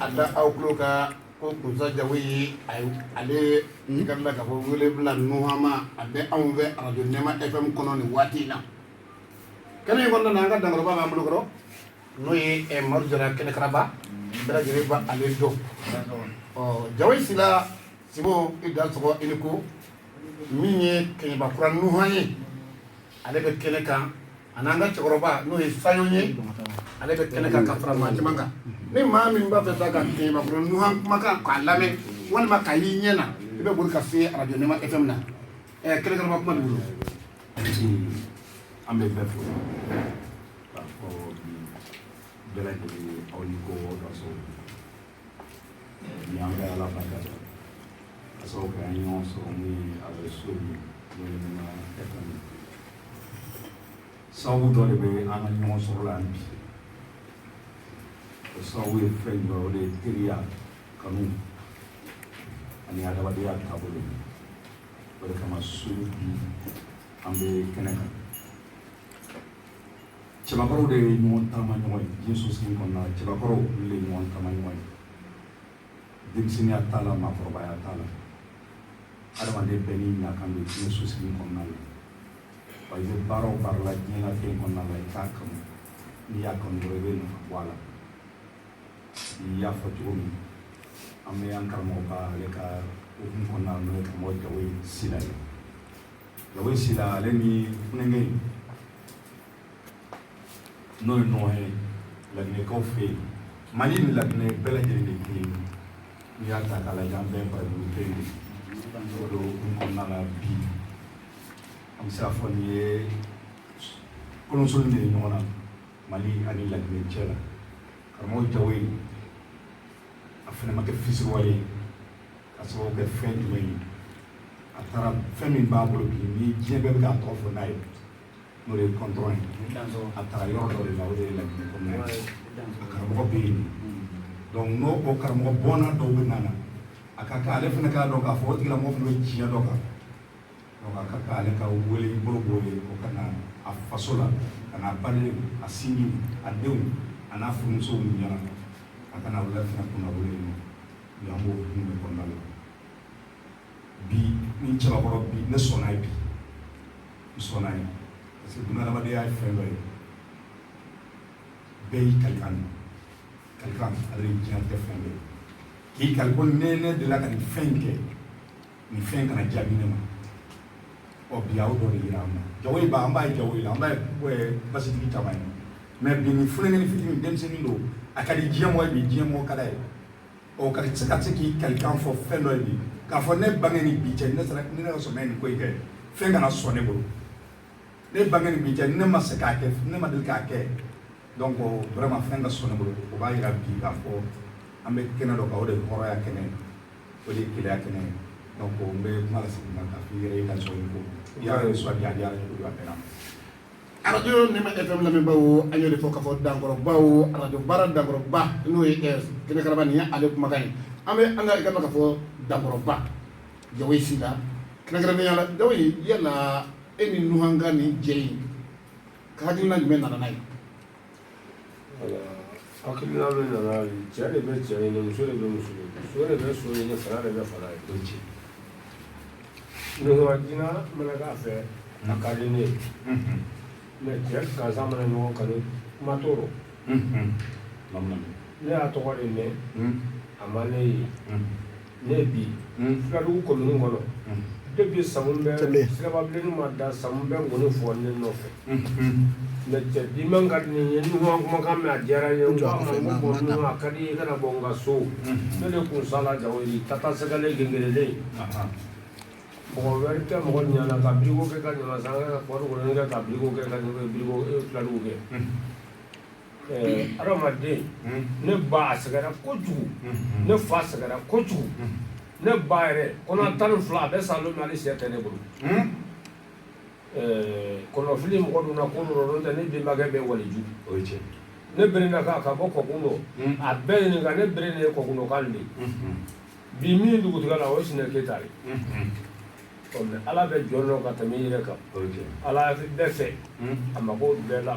a da aw tulo kan ko kusa jawoyi a ye ale ye ka bila k'a fɔ wele bila nuhan ma a bɛ anw fɛ arajo nɛma fm kɔnɔ nin waati in na kɛnɛ in kɔnɔna na an ka dankɔrɔba b'an bolo kɔrɔ n'o ye eh, madu jara kɛnɛkaraba bɛɛ lajɛlen b'ale dɔn ɔ jawoyi sila simbo i dansɔgɔ i ni ko min ye kɛɲɛbakura nuhan ye ale bɛ kɛnɛ kan ani an ka cɛkɔrɔba n'o ye sayɔn ye ale bɛ kɛnɛ kan ka fara maa caman kan ni maa min b'a fɛ sa ka kɛɲɛbakura nuhan kumakan k'a lamɛn walima k'a y'i ɲɛ na i bɛ boli ka se arajo nɛma fm na ɛ kɛnɛkaraba kuma de bolo an bɛ bɛɛ fo k'a fɔ bɛɛ lajɛlen aw ni ko Ni an bɛ ala barika da ka sababu kɛ an ye ɲɔgɔn sɔrɔ min ye a bɛ so min n'o ye Nɛma FM ye. Sababu dɔ de bɛ an ka ɲɔgɔn sɔrɔ la yan bi o sababu ye fɛn jumɛn ye o de ye teriya kanu ani adamadenya taabolo ye o de kama su bi an bɛ kɛnɛ kan. cɛbakɔrɔw de ye ɲɔgɔn taama ɲɔgɔn ye diɲɛ sosigi kɔnɔna la cɛbakɔrɔw olu de ye ɲɔgɔn taama ɲɔgɔn ye denmisɛnninya t'a la maakɔrɔbaya t'a la adamaden bɛɛ n'i nakan don diɲɛ sosigi kɔnɔna la wa i bɛ baara o baara la diɲɛnatigɛ kɔnɔna la i k'a kanu n'i y'a kanu dɔrɔn i bɛ nafa bɔ a la n'i y'a fɔ cogo min an bɛ an karamɔgɔ ka ale ka hukumu kɔnɔna la n'o ye karamɔgɔ jawoyi sila ye jawoyi sila ale ni funankɛ n'o ye nuhan ye laginɛkaw fɛ yen mali ni laginɛ bɛɛ lajɛlen de kelen n'i y'a ta k'a lajɛ an bɛɛ barajuru kelen de don o kɔnɔna la bi an bɛ se k'a fɔ nin ye koloso de ye ɲɔgɔn na mali ani laginɛ cɛ la karamɔgɔ jawoyi a fana ma kɛ fisiriwale ye ka sababu kɛ fɛn jumɛn ye a taara fɛn min b'a bolo bi ni diɲɛ bɛɛ bɛ k'a tɔgɔ fɔ n'a ye n'o ye kɔntɔrɔn ye a taara yɔrɔ dɔ de la o de ye laginɛ kɔnɔna ye a karamɔgɔ bɛ yen donc n'o o karamɔgɔ bɔnna dɔw bɛ nana a ka kan ale fana k'a dɔn k'a fɔ o tigilamɔgɔ fana bɛ tiɲɛ dɔ kan donc a ka kan ale ka wele bila o ye o ka na a faso la ka n'a balima sinji a denw a n'a furumusow ɲɛna a ka na u la fana kunnawolo ye An b'o hukumu de kɔnɔna la bi ni cɛbakɔrɔ bi ne sɔnna ye bi n sɔnna ye parce que bunahadamadenya ye fɛn dɔ ye bɛɛ y'i kalikan de kalikan ale de diɲɛ tɛ fɛn bɛɛ k'i kali ko ne ne delila ka nin fɛn in kɛ nin fɛn in kana jaabi ne ma ɔ bi aw dɔ de yira an na Jawoyi ba an b'a ye Jawoyi la an b'a ye basitigi caman ye mais bi nin funankɛni fitini denmisɛnnin don a ka di diɲɛ mɔgɔ ye bi diɲɛ mɔgɔ ka d'a ye ɔ ka se ka se k'i kalikan fɔ fɛn dɔ ye bi k'a fɔ ne bange ni bi cɛ ne sera ne ka sɔn nin ko in kɛ fɛn kana sɔn ne bolo ne bange ni bi cɛ ne ma se k'a kɛ ne ma deli k'a kɛ donc vraiment fɛn ka sɔn ne bolo o b'a yira bi k'a fɔ an bɛ kɛnɛ dɔ kan o de ye hɔrɔnya kɛnɛ ye o de ye kelenya kɛnɛ ye donc n bɛ kuma lase ma k'a fɔ i yɛrɛ ye ka sɔn ko i y'a ye sɔn a diyara ne bolo a bɛnna radio Nɛma FM lamɛnbaw an y'o de fɔ k'a fɔ dankɔrɔbaw radio baara dankɔrɔba n'o ye kɛnɛkaraba nin ye ale kumakan ye an bɛ an ka ka fɔ dankɔrɔba Jawoyi Sila kɛrɛnkɛrɛnnenya la Jawoyi yala e ni Nuhan ka nin jɛ in ka hakilina jumɛn nana n'a ye hakilina min nana cɛ de bɛ cɛ ɲini muso de bɛ muso ɲini so de bɛ so ɲini fara de bɛ fara ye bɛ ci nɔgɔdina mana k'a fɛ a ka di ne ye mais cɛ gansan mana ɲɔgɔn kanu kuma t'o rɔ ne y'a tɔgɔ de mɛn a ma ne ye Ne bi Fuladugu commune kɔnɔ depuis Samu bɛ siraba bilen ma da Samu bɛ nkɔni fɔ ne nɔfɛ mais cɛ bi man ka di ne ye Nuhan kumakan mɛn a diyara n ye a ka di i kana bɔ n ka so ne de kun sala Jawoyi tata sɛgɛlen gengerelen mɔgɔ wɛrɛ tɛ mɔgɔ ɲana ka Birigo kɛ ka ɲa ka kɛ ka filadugu kɛ Adamaden ne ba a sɛgɛra kojugu ne fa sɛgɛra kojugu ne ba yɛrɛ kɔnɔ tan ni fila a bɛɛ sa don ni sɛ tɛ ne bolo kɔnɔfili mɔgɔ donna ko dɔ rɔ n'o tɛ ne bɛnbakɛ bɛ waliju o cɛ ne berena ka ka bɔ kɔkun dɔ a bɛɛ ɲininka ne bere de ye kɔkun dɔ k'ale de bi min dugutigiya la o ye Sinɛ Keyita ye ala bɛ jɔn dɔn ka tɛmɛ i yɛrɛ kan ala bɛɛ fɛ a mako tɛ bɛɛ la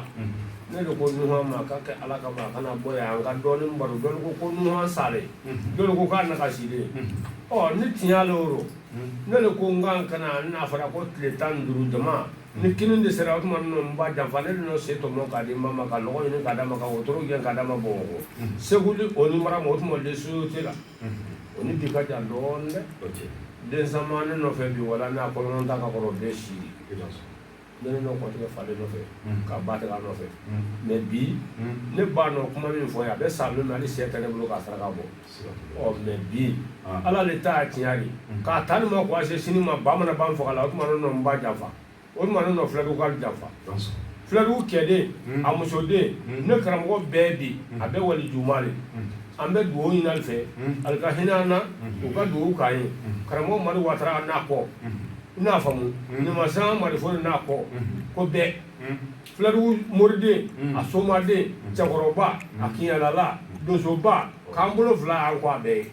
ne de ko Nuhan ma k'a kɛ ala kama kana bɔ yan an ka dɔɔnin baro dɔlu ko ko Nuhan salen dɔlu ko k'a nagasilen ɔ ni tiɲɛ le o ne de ko n kan kana n'a fɔra ko tile tan ni duuru jama ni kini de sera o tuma ninnu n ba janfa ne de n'o se tɔmɔ k'a di mama ka nɔgɔ ɲini k'a d'a ma ka wotoro gɛn k'a d'a ma Bamakɔ Segu le o ni mara ma o tuma le so tɛ la o ni bi ka jan dɔɔnin dɛ o cɛ den sama ne nɔfɛ bi wala n'a kɔlɔn ta ka kɔrɔ bɛɛ si ye ne ne nɔ kɔtigɛ falen nɔfɛ ka ba tigɛ nɔfɛ mais bi ne ba nɔ kuma min fɔ ye a bɛ sa min na hali sɛ tɛ ne bolo k'a saraka bɔ ɔ mais bi ala de ta tiɲɛ de k'a ta ni ma ko a se sini ma bamanan ban faga la o tuma ne nɔ n ba janfa o tuma ne nɔ fuladugu kaw janfa fuladugu kɛden hmm. a musoden hmm. ne karamɔgɔ bɛɛ bi hmm. a bɛ wali juma de an bɛ dugawu ɲini ali fɛ ali ka hinɛ an na u ka dugawu k'an ye karamɔgɔ madi watara n'a kɔ n'a faamu ɲamasan madi fore n'a kɔ ko bɛɛ fuladugu moriden a somaden cɛkɔrɔba a kiɲɛlala donsoba k'an bolo fila an kɔ a bɛɛ ye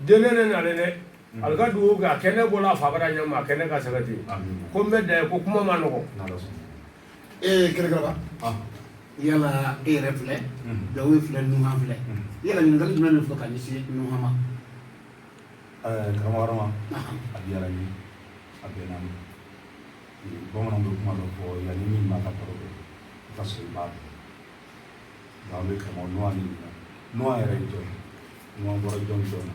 denkɛ ne nalen dɛ Ali ka dugawu kɛ a kɛnɛ bɔra a fa bara ɲɛ ma a kɛnɛ ka segin ten ko n bɛ dan yen ko kuma man nɔgɔ kɛrɛkɛrɛba yala e yɛrɛ filɛ Jawoyi filɛ Nuhan filɛ yala ɲininkali jumɛn de fɔ ka ɲɛsin Nuhan ma karamɔgɔ Arama a diyara n ye a bɛnna n ma bamananw bɛ kuma dɔ fɔ yanni min ma ka kɔrɔ i ka sɔrɔ i b'a dɔn bɛ karamɔgɔ Nuhan Nuhan yɛrɛ jɔn Nuhan bɔra jɔn jɔn na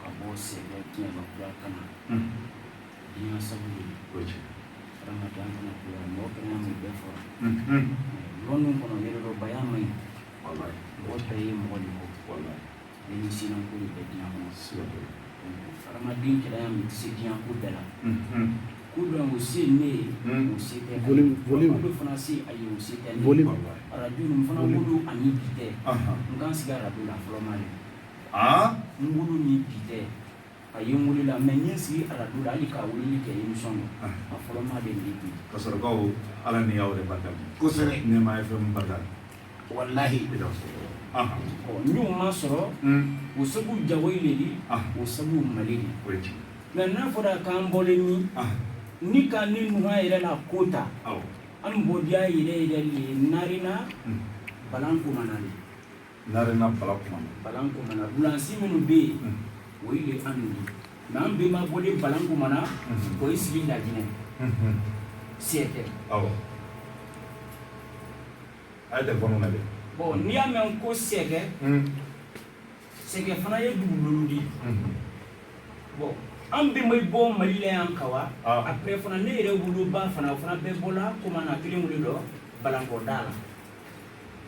ka bɔ sɛgɛ kiɲɛbakura ka na diɲɛ sabu ye adamadenya fana kura mɔgɔ kɛnɛya min bɛɛ fɔra lɔnni kɔnɔ yɛrɛdɔbaya man ɲi mɔgɔ bɛɛ ye mɔgɔ de kɔ ni sinanko de bɛ diɲɛ kɔnɔ adamaden kɛnɛya min tɛ se diɲɛ ko bɛɛ la ko dɔ o se ne ye o se tɛ ko fana se a ye o se tɛ ne ye arajo nin fana wolo ani bi tɛ n ka n sigi arajo la fɔlɔma de aa n wolo ni bi tɛ a ye n wolo la mais n ye n sigi arajo la hali ka weleli kɛ émission na ah. a fɔlɔma de nin bi ka sɔrɔ kaw ala ni y'aw yɛrɛ barika bi kosɛbɛ nɛɛma fm barika walahi ah. ɔ n y'o ma sɔrɔ hmm. o sabu jawoyi le di ah. o sabu madi le mais n'a fɔra k'an bɔlen ni ni ka ne nuhan yɛrɛ la ko ta an bɔdiya yɛrɛ yɛrɛ le narena hmm. balankomana de Narena Balankomana. Balankomana. Bulansi minnu bɛ yen, o ye le an de ye. Mais an bɛnba bɔlen Balankomana, o ye sigi Laginɛ. Sɛkɛ. Awɔ. A ye telefɔni lajɛ. Bon n'i y'a mɛn ko sɛkɛ, sɛkɛ fana ye dugukolo de ye. Bon an bɛnba bɔ Mali la yan ka wa, après fana ne yɛrɛ woloba fana, o fana bɛɛ bɔla Komana kelen-kelen dɔ Balankɔda la.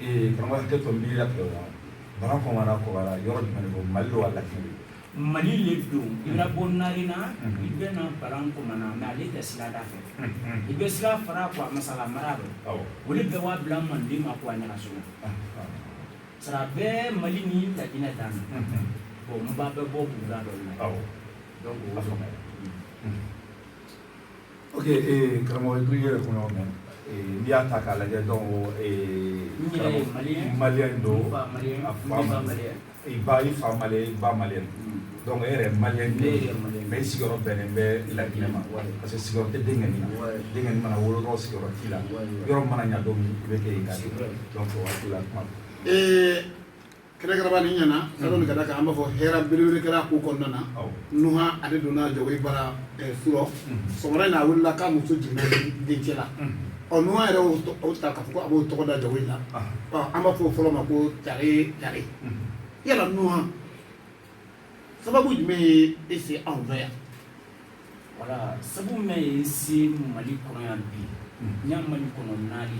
ee karamɔgɔ hakɛ to n b'i latigɛ o la balankomana kɔgɔra yɔrɔ jumɛn de don mali don wa laginɛ de mali le don i na bɔ narena i bɛ na balankomana mais ale tɛ sira da fɛ i bɛ sira fara quoi masala mara dɔ o de bɛɛ b'a bila manden ma quoi ɲagasola sara bɛɛ mali ni laginɛ dan na bɔn n ba bɛ bɔ buguda dɔ la donc o faamuya ok ee karamɔgɔ i yɛrɛ kun y'o mɛn ee n'i y'a ta k'a lajɛ donc ee n yɛrɛ ye maliyɛn maliyɛn don n fa maliyɛn a fa n ba maliyɛn i ba i fa maliyɛn i ba maliyɛn donc e yɛrɛ maliyɛn ne yɛrɛ maliyɛn mais i sigiyɔrɔ bɛnnen bɛ laginɛ ma Ouais. parce que sigiyɔrɔ tɛ denkɛni na Ouais. denkɛni mana wolo dɔrɔn sigiyɔrɔ t'i la Ouais, ouais. yɔrɔ mana ɲa don min i bɛ kɛ yen ka C'est vrai. donc o waati la kuma don. Ee kɛrɛkɛrɛba ni ɲɛna sadɔni ka da kan an b'a fɔ hɛrɛ belebele kɛra ko kɔnɔna na nuha ale donna jawoyi bara surɔ sɔgɔmada in na a wulila k'a muso jiginna dencɛ la ɔ nuha yɛrɛ y'o ta k'a fɔ ko a b'o tɔgɔ da jawoyi la an b'a fɔ o fɔlɔ ma ko tare tare yala nuha sababu jumɛn ye e se anw fɛ yan voilà sabu min ye n se mali kɔnɔ yan bi n ya mali kɔnɔ naali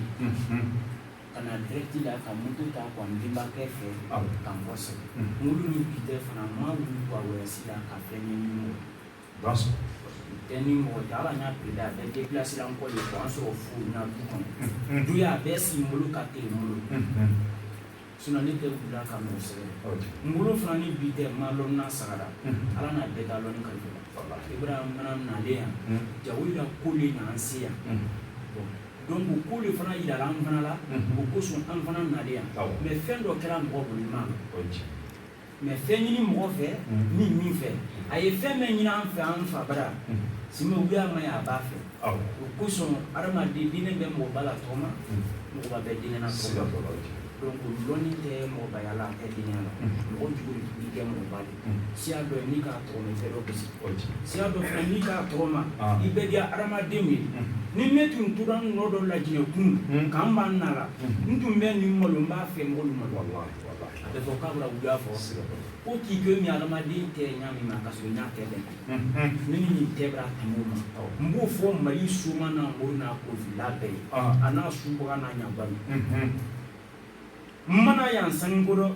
ka na direct la ka moto ta ka n benbakɛ fɛ ka n kɔsegin n wolo ni bi tɛ fana n ma wuli ka voyage la ka fɛn ɲini mɔgɔ tɛ ni mɔgɔ tɛ ala n y'a pele a bɛɛ depilasira n kɔ de ka n sɔrɔ fo n na du kɔnɔ duniya bɛɛ si n bolo ka teli n bolo Sinon ne tɛ wuli la ka mɔgɔ sɛgɛrɛ n wolo fana ni bi tɛ n m'a dɔn n'a sagara ala n'a bɛɛ da dɔn kan ibrahima fana nalen yan jawoyi la ko le nana se yan donc ko de fana jira an fana la o kosɔn an fana nalen yan mais fɛn dɔ kɛra mɔgɔ bolo ma mais fɛn ɲini mɔgɔ fɛ ni min fɛ a ye fɛn min ɲini an fɛ an fa bara simi u y'a ma ye a b'a fɛ o kosɔn adamaden diinɛ bɛ mɔgɔba la tɔgɔma mɔgɔba bɛ diinɛ na tɔgɔma donc o lɔnni tɛ mɔgɔbaya la a tɛ diinɛ la mɔgɔ jugu de tun kɛ mɔgɔba de siya dɔ ye n'i k'a tɔgɔma i bɛ dɔ gosi siya dɔ fana n'i k'a tɔgɔma i bɛ diya adamadenw ye ni ne tun tora nɔ dɔ lajinɛ kun k'an b'a nara n tun bɛ nin malo n b'a fɛ mɔgɔ min ma a bɛ fɔ k'a bɛna wuya fɔ ko k'i kɛ min adamaden tɛ ɲa min ma ka sɔrɔ ɲa tɛ dɛ ne ni nin tɛ bɛra tɛmɛ ma n b'o fɔ mali suma n'a ko n'a ko fila bɛɛ ye a n'a subaga n'a ɲaba ye n ma na yan sanu ko dɔ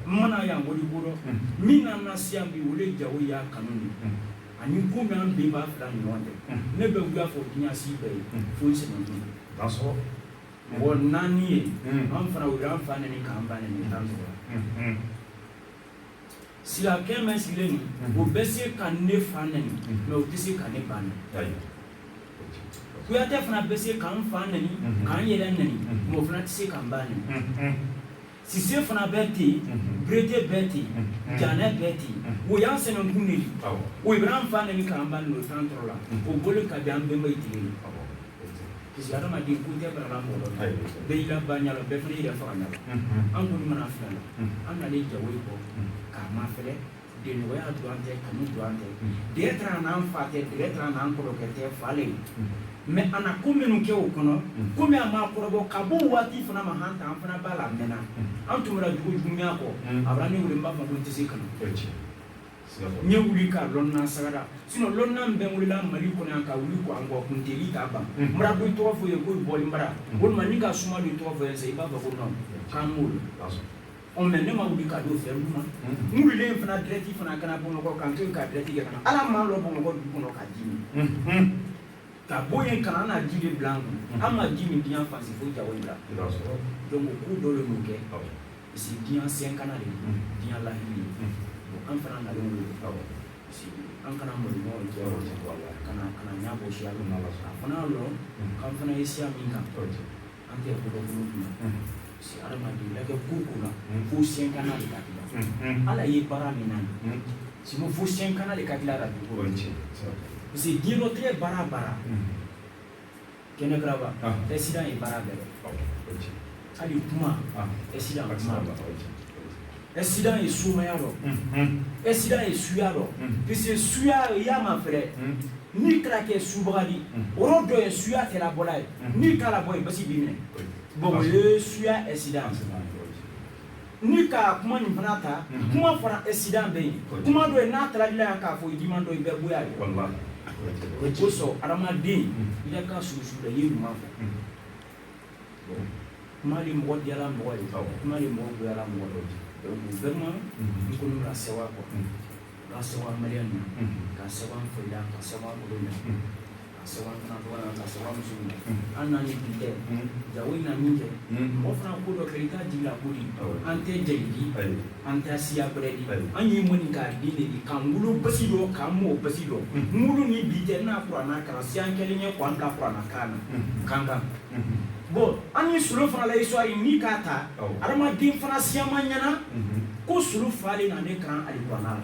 n ma na yan wari ko dɔ min nana n se yan bi o de jawoyi ya kanu ye ani ko min an bɛn b'a fila ɲɔgɔn tɛ ne bɛ wuya fɔ dunyasi bɛɛ ye fo n sɛgɛn mɔgɔ naani ye an fana u y'an fa nɛni k'an ba nɛni t'an sɔrɔ Silakɛ min sigilen nin o bɛ se ka ne fa nɛni mais o tɛ se ka ne ba nɛni Kuyatɛ fana bɛ se k'an fa nɛni k'an yɛrɛ nɛni mais o fana tɛ se k'an ba nɛni Sise fana bɛ ten Berete bɛ ten Janɛ bɛ ten o y'an senankun de di o bara an fa nɛni k'an ba nɛni o t'an tɔɔrɔ la o bɔlen kabi an bɛnba tile ye parce que adamaden ko tɛ bara mɔgɔ bɛɛ y'i la ba ɲa la bɛɛ fana yɛrɛ faga ɲa la an kɔni mana fila an nalen Jawoyi kɔ k'a mafɛlɛ Denya dɔrɔn tɛ kanu dɔrɔn tɛ dɛsɛ taara n'an fa tɛ dɛsɛ taara n'an kɔrɔ tɛ fa ye mais a na ko minnu kɛ o kɔnɔ kɔmi a ma kɔrɔbɔ ka bɔ waati fana ma an an fana b'a la mɛnna an tun bɛ dugu dunya kɔ a bɛ ne weele n b'a fɔ n tɛ se ka na n ye wuli k'a lɔn sagara sinon lɔn bɛ wulila Mali kɔnɔ ka wuli ko an kun deli k'a ban mara bɛ tɔgɔ fɔ ye ko bɔ mara walima ka suma ni tɔgɔ fɔ ye i b'a fɔ ko k'an ɔ mais ne ma wuli ka don fɛn ma n wulilen fana direct fana ka na Bamakɔ k'an to yen ka direct kɛ ka na ala m'an lɔ Bamakɔ dugu kɔnɔ ka ji min ka bɔ yen ka na an na ji de bila an kun an ma ji min diɲɛ fan si fo Jawoyi la donc ko dɔ de y'o kɛ parce que diɲɛ sɛnkana de don diɲɛ lahiri de don an fana nalen wele parce que an kana malo ɲɔgɔn cɛ kana kana ɲɛ bɔ siya min na a fana y'a dɔn k'an fana ye siya min kan an tɛ ko dɔ bolo kunna adamaden lajɛ ko ko la fo sɛnkana de ka dilan ala ye baara min na sinon fo sɛnkana de ka dilan ka dugu kɔrɔ parce que diɲɛ latigɛ baara baara kɛnɛ garaba accident ye baara bɛɛ hali kuma accident kuma accident ye sumaya dɔ accident ye suya dɔ parce que suya y'a mafɛlɛ n'i kɛra kɛ subaga di o yɔrɔ dɔ ye suya tɛ labɔla yen n'i k'a labɔ yen basi b'i minɛ bon o ye suya accident n'i ka kuma nin fana ta kuma fana accident bɛ yen kuma dɔ ye n'a taara i la yan k'a fɔ i diman dɔ i bɛ goya ye o kosɔn adamaden i ka kan susu la i ye ɲuman fɔ kuma de mɔgɔ diyala mɔgɔ ye kuma de mɔgɔ goyala mɔgɔ ye donc vraiment n kɔni bara sewa quoi ka sewa maliyɛn na ka sewa an fɛla ka sewa an bolo na ka sewa an fana tɔgɔ la ka sewa an musow la an n'an ye bi tɛ Jawoyi na min kɛ mɔgɔ fana ko dɔ kɛ i t'a jigi la ko di an tɛ jeli di an tɛ siya gbɛrɛ di an ye Maninka den de di k'an wolo basi dɔ k'an mɔ basi dɔ n wolo ni bi tɛ n na kurana kalan siyan kelen ye k'an bila kurana kalan na Kankan bon an ye Solo fana la histoire n'i k'a ta adamaden fana siyaman ɲɛna ko Solo fa le na ne kalan alikurana la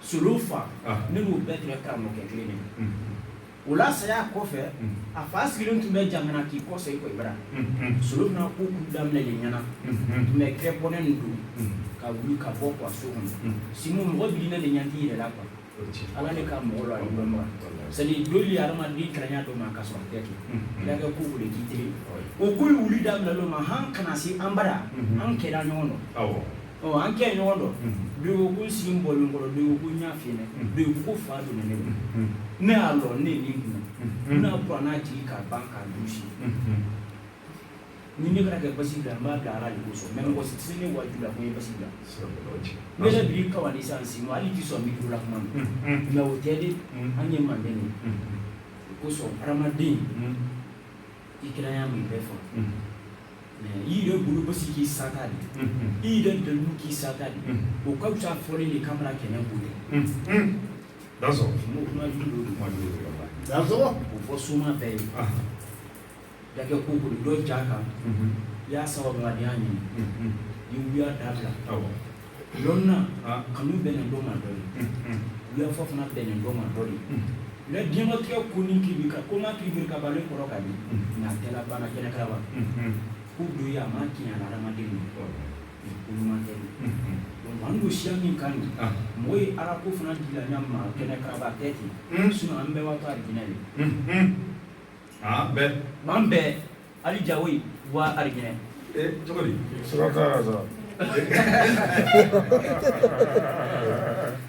solo fa ne b'u bɛɛ tɛrɛ karamɔgɔkɛ kelen min o la saya kɔfɛ a fa sigilen tun bɛ Jangana k'i kɔ i ko i bara solo fana ko kun daminɛ de ɲɛna tun bɛ kɛ bɔnɛ nin don ka wuli ka bɔ kuwa so kɔnɔ sinon mɔgɔ bi ne de ɲa t'i yɛrɛ la kuwa ala ne ka mɔgɔ la dɔn ma sani doli ye adamaden kalanya dɔ ma ka sɔrɔ tɛ kɛ kira kɛ ko wuli k'i teri o ko ye wuli daminɛ l'o ma han kana se an bara an kɛra ɲɔgɔn dɔn an kɛ ɲɔgɔn dɔn de ko si bɔlen kɔrɔ de ko ɲɛ fi de o ko fa don ne ne y'a dɔn ne ni kun n'a bɔra n'a jigin ka ban ka dusu ni ne bɛna kɛ basi bila n b'a bila ala de kosɔn mɛ mɔgɔ si tɛ ne wajibi la ko ye basi bila ne yɛrɛ bi ka ni san si ma hali ti sɔn mikro la kuma nka o tɛ de an ye manden de kosɔn hadamaden i kiranya min bɛɛ fɔ mɛ i yɛrɛ bolo basi k'i sata de i yɛrɛ dɛmɛ k'i sata de o ka fisa fɔlen de kamara kɛnɛ ko dɛ Dansɔgɔ kuma kuma Dansɔgɔ o fɔ suma bɛɛ ye dakɛ ko ko dɔ ja kan i y'a sababu la n'i y'a ɲini i wuya dabila lonna kanu bɛnnen dɔ ma dɔ ye wuya fɔ fana bɛnnen dɔ ma dɔ de la diɲɛlatigɛ ko ni k'i bi ka ko ma k'i biri ka balen kɔrɔ ka di nka a tɛ laban na kɛnɛ karaba ko don ye a ma tiɲɛ la adamaden min ko ɲuman tɛ donc an don siya min kan nin mɔgɔ ye ala ko fana dila ɲa ma kɛnɛ karaba tɛ ten sinon an bɛɛ b'a to alijinɛ de bɛɛ b'an bɛɛ Ali jawo ye bɔ alijinɛ ee cogo di sira t'a la sa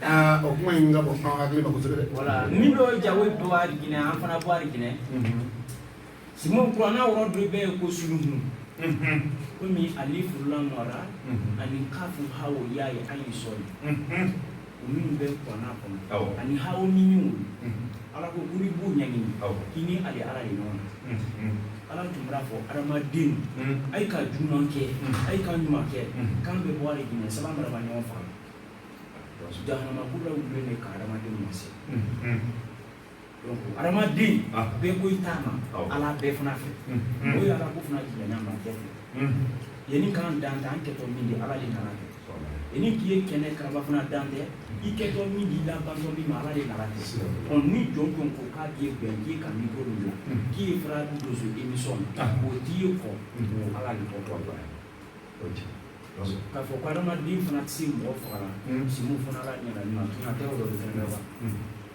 aa o kuma in ka bɔ an hakili ma kosɛbɛ dɛ wala min dɔ jawo ye bɔ alijinɛ an fana bɔ alijinɛ simu kuranna wɔrɔ dɔ bɛ ye ko suluhun komi alifu lamu ra ani kafu hawo y'a ye an ye sɔli minnu bɛ kuranna kɔnɔ ani hawo ni ɲɔgɔn ala ko ko b'u ɲɛɲini k'i ni ale ala de ɲɔgɔn na ala tun b'a fɔ adamaden a ye ka juguman kɛ a ye ka ɲuman kɛ k'an bɛ bɔ alijinɛ saba maraba ɲɔgɔn faga jahanama kula wulilen de ka adamadenw ma se adamaden bɛɛ ko i t'a ma ala bɛɛ fana fɛ o ye ala ko fana jumɛnya ma kɛ ten yanni k'an dan tɛ an kɛtɔ min de ala de nana kɛ yanni k'i ye kɛnɛ karaba fana dan tɛ i kɛtɔ min di labantɔ min ma ala de nana kɛ ɔ ni jɔn jɔn ko k'a b'i bɛn k'i ye ka mikro min bila k'i ye fara dozo emisɔn na o t'i ye kɔ o ala de tɔ tɔ la k'a fɔ ko adamaden fana tɛ se mɔgɔ faga la simu fana ala ɲɛna ɲuman tɛna tɛ o dɔ de fɛnɛ la wa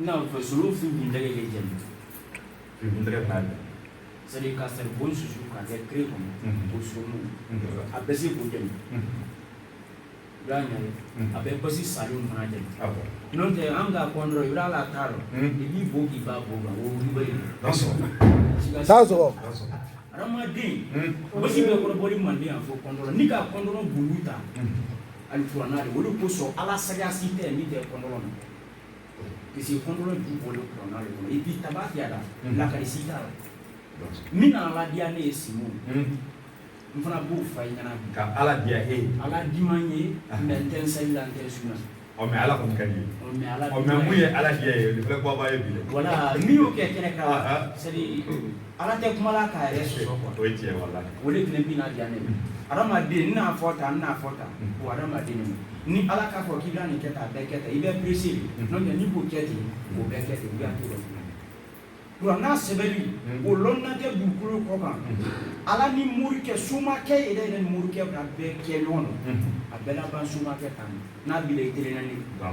Ina fɛ suru fi kun tɛgɛ kɛ jɛmu fi kun tɛgɛ b'a la sani ka saribon susu k'a kɛ kiri kɔnɔ o suru a bɛ se k'o jɛmu y'a ɲɛ a bɛ basi salen fana jɛmu n'o tɛ an ka kɔndɔrɔn i b'a la t'a dɔn i b'i bo k'i b'a bo kan o wuli ye dansɔgɔ adamaden basi bɛ kɔrɔbɔli manden yan fɔ kɔndɔrɔn ni ka kɔndɔrɔn bulu ta ani kuranna de o de kosɔn ala sariya si tɛ min tɛ kɔndɔrɔn na Pseke kɔnɔn du bɔ i bi taba la lakari si la min nana diya ne ye si n fana b'o fa i ɲɛna ka ala diya e ala di ma ye n tɛ sa la tɛ su na ɔ mɛ ala kɔni ka di mɛ ala mɛ mun ye ala diya ye baba ye bi wala min y'o kɛ kɛnɛ ka seli Ala tɛ kuma la k'a yɛrɛ sɔsɔ quoi o ye tiɲɛ ye walahi o de fana bɛna diya ne ye hadamaden n n'a fɔ tan n n'a fɔ tan o hadamaden de ni Ala k'a fɔ k'i bɛna nin kɛ tan a bɛɛ kɛ tan i bɛ pressé de n'o tɛ n'i b'o kɛ ten o bɛɛ kɛ ten ou bien a t'o kɛ kuranɛ n'a sɛbɛnni o lɔnna tɛ dugukolo kɔ kan Ala ni morikɛ somakɛ yɛrɛ yɛrɛ ni morikɛ b'a bɛɛ kɛ ɲɔgɔn na a bɛ laban somakɛ tan n'a bila i kelen na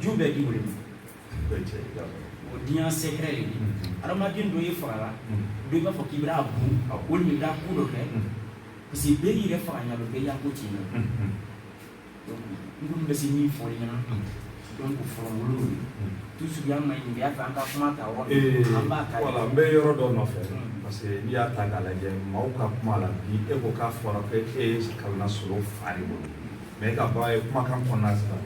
ju bɛɛ di ile ma o diɲɛ secret de adamaden dɔ ye fagala dɔ i b'a fɔ k'i b'a bon walima i b'a ko dɔ kɛ parce que bɛɛ y'i yɛrɛ faga ɲa bɛɛ y'a ko tiɲɛ na n kɔni bɛ se min fɔ ɲɛna donc fɔlɔ wolo ye toujours y'a ma ɲininka y'a fɛ an ka kuma ta yɔrɔ an b'a ta voilà n bɛ yɔrɔ dɔ nɔfɛ parce que n'i y'a ta k'a lajɛ maaw ka kuma la bi e ko k'a fɔra ko e ye kalan na solo fa de bolo Mais e ka bɔ ye kumakan kɔnɔna sisan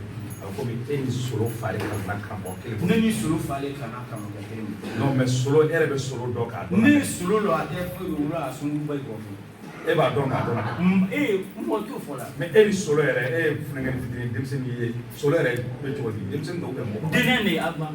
a ko komi e ni solo fa de kalanna karamɔgɔ kelen ne ni solo fa de kalanna karamɔgɔ kelen mais solo e yɛrɛ bɛ solo dɔn k'a dɔn ne solo don a tɛ a sunba kɔ e b'a dɔn k'a dɔn e mɔ t'o fɔ la mais e ni solo yɛrɛ e ye funankɛ fitinin denmisɛnnin ye solo yɛrɛ bɛ cogo di denmisɛnnin dɔw bɛ mɔgɔ denkɛ de y'a ban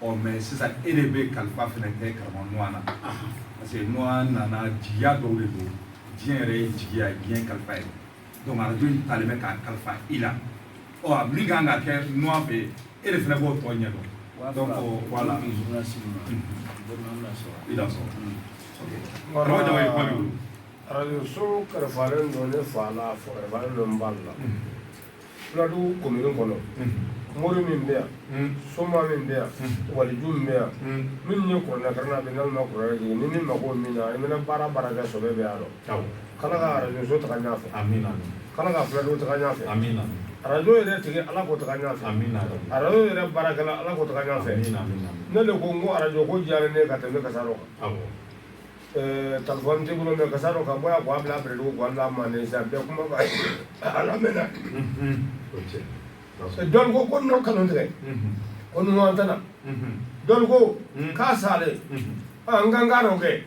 ɔ mais sisan e de bɛ kalifa fana kɛ karamɔgɔ Nuwa na parce que Nuwa nana jigiya dɔw de don diɲɛ yɛrɛ ye jigiya ye diɲɛ kalifa ye donc arajo in talen bɛ k'a kalifa i la ɔ min kan ka kɛ Nuwa fɛ e de fana b'o tɔ ɲɛ dɔn donc voilà i dansɔgɔ karamɔgɔ Jawoyi kuma b'i bolo arajo so kalifalen don ne fa la fɔ kalifalen don n ba la Fuladu komini kɔnɔ mori min bɛ yan soma min bɛ yan waliju min bɛ yan min ye kuranɛ karanna a bɛ n'alu ma kuranɛ ni min mako min na i mana baara baara kɛ sɔbɛ bɛ a rɔ k'ala ka arajo so taa ɲɛfɛ k'ala ka fuladu taa ɲɛfɛ arajo yɛrɛ tigi ala k'o taa ɲɛfɛ arajo yɛrɛ baarakɛla ala k'o taa ɲɛfɛ ne de ko n ko arajo ko diyara ne ka tɛmɛ Kasaro kan Telefɔni tɛ bolo mais k'a sɔrɔ ka bɔ yan k'a bila Bɛrɛdugu k'a bila Manden sa bɛɛ kuma ala mɛn dɔn ko ko n kanu tigɛ ko ɲuman tɛna dɔn ko k'a salen an ka kan ka dɔ kɛ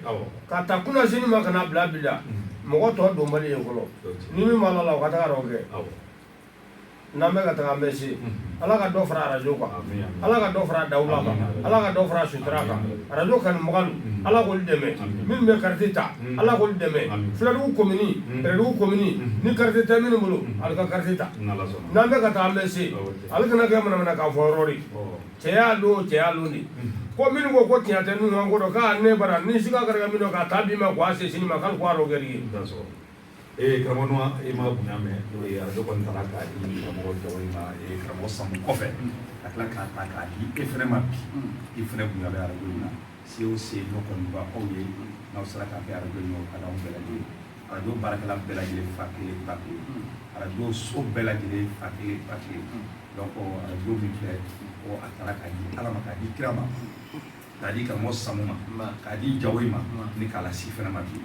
ka taa kunna sini ma kana bila bi la mɔgɔ tɔ donbali ye fɔlɔ ni min b'a la o ka taa dɔ kɛ n'an bɛ ka taga an bɛ se ala ka dɔ fara arajo kan ala ka dɔ fara dawula kan ala ka dɔ fara sutura kan arajo kanubagaw ala k'olu dɛmɛ minnu bɛ kariti ta ala k'olu dɛmɛ Fuladugu komini Bɛrɛdugu komini ni kariti tɛ minnu bolo ale ka kariti ta n'an bɛ ka taa an bɛ se ale kana kɛ manamana k'a fɔ yɔrɔ de cɛ y'a don cɛ y'a don de ko minnu ko ko tiɲɛ tɛ ninnu kan ko dɔn k'a ne bara ni siga kɛra min dɔn k'a taa bi ma k'a se sini ma k'ale k'o arɔ kɛ ye Ee karamɔgɔ Nuwa e ma bonya mɛn arajo kɔni taara k'a di karamɔgɔ Jawoyi ma ee karamɔgɔ Samu kɔfɛ ka tila k'a ta k'a di e fana ma bi i fana bonya bɛ arajo in na se o se n'o kɔni bɛ aw ye n'aw sera k'a kɛ arajo in na o ka d'anw bɛɛ lajɛlen ye arajo baarakɛla bɛɛ lajɛlen fa kelen ba kelen arajo so bɛɛ lajɛlen fa kelen ba kelen donc arajo min filɛ ko a taara k'a di Ala ma k'a di kira ma k'a di karamɔgɔ Samu ma k'a di Jawoyi ma ni k'a lase i fana ma bi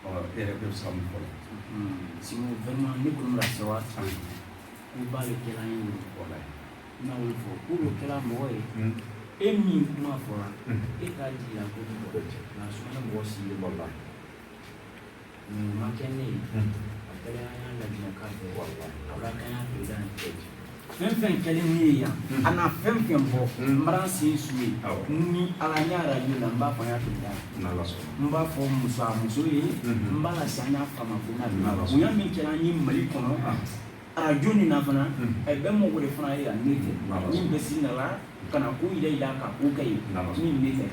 e yɛrɛ bɛ se ka mun fɔ sinon vraiment ne kɔni bɛ ka sewa san koba le kɛla n ye wolo kɔla ye n na wolo fɔ ko le kɛla mɔgɔ ye e min kuma fɔra e k'a jira ko ni mɔgɔ cɛ nka Sumana mɔgɔ sigilen b'o la nin ma kɛ ne ye a kɛra an y'a lajɛ k'a fɛ wala a b'a kɛ an y'a président fɛn fɛn kɛlen ne ye yan mm. a na fɛn fɛn bɔ mm. n bara sen su ye ni ala n y'a radio la n b'a fɔ n y'a président n b'a fɔ muso a muso ye mm-hmm. n b'a lase an y'a fama ko na bonya min kɛra an ye mali kɔnɔ ah. arajo nin na fana mm. ɛ bɛɛ mɔgɔ de fana ye yan ne tɛ min bɛ sin na la ka na ko yɛrɛ yira ka ko kɛ ye min ne tɛ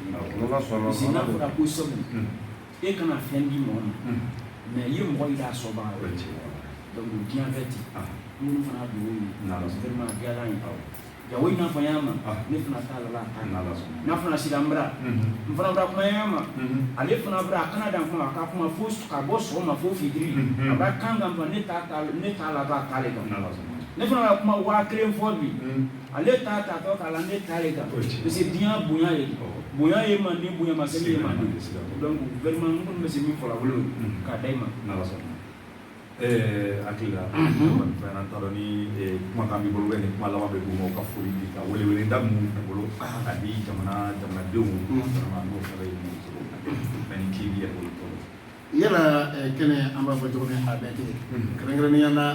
parce que n'a fɔra ko Samu e kana fɛn di mɔgɔ ma mais i ye mɔgɔ yira sɔba donc diɲɛ bɛ ten minnu fana dɔ ye vraiment diyara n ye Jawoyi n'a fɔ y'a ma ne fana t'a la n'a fana sira n bara n fana bara kuma y'a ma ale fana bara a kana dan kuma a ka kuma fo ka bɔ sɔgɔma fo fitiri a b'a kan kan ne t'a la k'a k'ale kan ne fana ka kuma waa kelen fɔ bi ale t'a ta to k'a la ne ta le kan parce que diɲɛ bonya ye bonya ye man di bonya ma seli ye man donc vraiment n kɔni bɛ se min fɔla o le k'a da i ma n'ala sɔnna ɛɛ hakili la fɛn an t'a dɔn ni kumakan b'i bolo ni kuma laban bɛ d'u ma u ka foli di ka weleweleda minnu bɛ bolo ka di jamana jamanadenw ma n'o fana ye mun cogo mais ni k'i yɛrɛ bolo tɔɔrɔ yala kɛnɛ an b'a fɔ cogo min a bɛɛ tɛ kɛrɛnkɛrɛnnenya la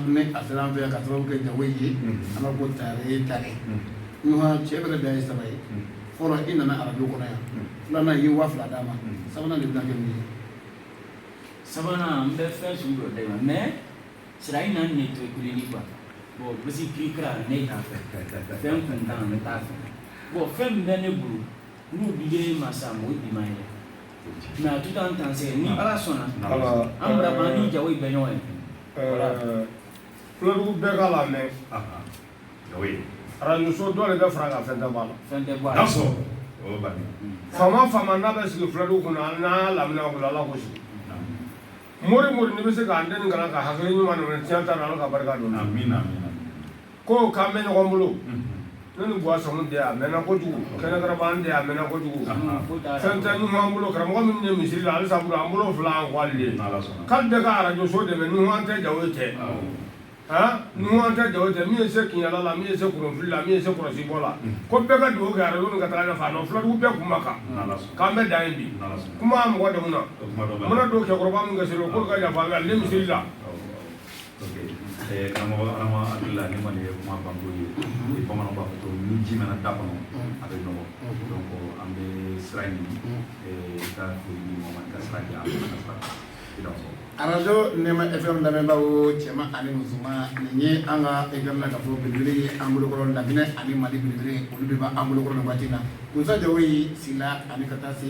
ne a sera an fɛ yan ka sababu kɛ Jawoyi ye an b'a fɔ tare ye tare Nuhan cɛ bɛrɛ da ye saba ye fɔlɔ i nana arajo kɔnɔ yan filanan i ye waa fila d'a ma sabanan de bɛna kɛ mun ye sabanan n bɛ fɛn sugu dɔ d'i ma mais sira in na ne to kuleli quoi bon basi kiri kira ne t'a fɛ fɛn kuntan ne t'a fɛ bon fɛn min bɛ ne bolo N'u bi ye mansa o bi ye mais à tout instant ni ala sɔnna an bara ni Jawoyi bɛ ɲɔgɔn ye Fuladugu bɛɛ k'a lamɛn arajoso dɔ de bɛ fara a kan fɛn tɛ bɔ a la faama faama n'a bɛ sigi Fuladugu kɔnɔ an n'a lamini ala k'o sigi mori mori n'i bɛ se k'an den kalan ka hakili ɲuman minɛ tiɲɛ ta ala ka barika don Ko k'an bɛ ɲɔgɔn bolo ne ni bɔ sɔn de a mɛnna kojugu Kɛnɛkaraba de a mɛnna kojugu fɛn tɛ Nuhan bolo karamɔgɔ min ye misiri la halisa an bolo fila an k'ale de k'ale bɛ ka arajoso dɛmɛ Nuhan tɛ Jawoyi tɛ aa Nuhan tɛ Jawoyi tɛ min ye se kiyala la min ye se kunfi la min ye se kɔlɔsibɔ la ko bɛɛ ka dugawu kɛ arajo ka taa ɲɛfɛ a dɔn fuladugu bɛɛ kun kan k'an bɛ dan yen bi kuma mɔgɔ dɛmɛ na n mana don cɛkɔrɔba min ka se k'o ka yafa misiri la karamɔgɔ alhamdulila Nuhan nin ye kuma banko ye o ye bamananw b'a fɔ ko ni ji mɛnna da kɔnɔ a bɛ nɔgɔ donc an bɛ sira ɲini ka foli di mɔgɔ ma ka sira di an ma ka sira fɔ arajo nɛma fm lamɛnbaaw cɛman ani musoman nin ye an ka fm na k'a fɔ belebele ye an bolokɔrɔ Laginɛ ani mali belebele olu de b'an bolokɔrɔ nin waati na Musa Jawoyi Sila ani ka taa se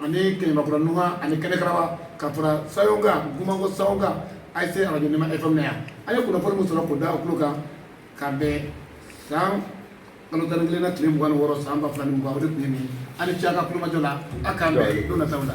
ani Kɛɲɛmakura Nuhan ani Kɛnɛkaraba ka fara Sayon kan Gumanko Sayon kan a ye se arajo nɛma fm na yan an ye kunnafoni min sɔrɔ k'o da aw tulo kan ka bɛn san kalo tan ni kelen na tile mugan ni wɔɔrɔ san ba fila ni mugan o de tun ye nin ye aw ni ce a ka tulomajɔ la a k'an bɛn don nataw la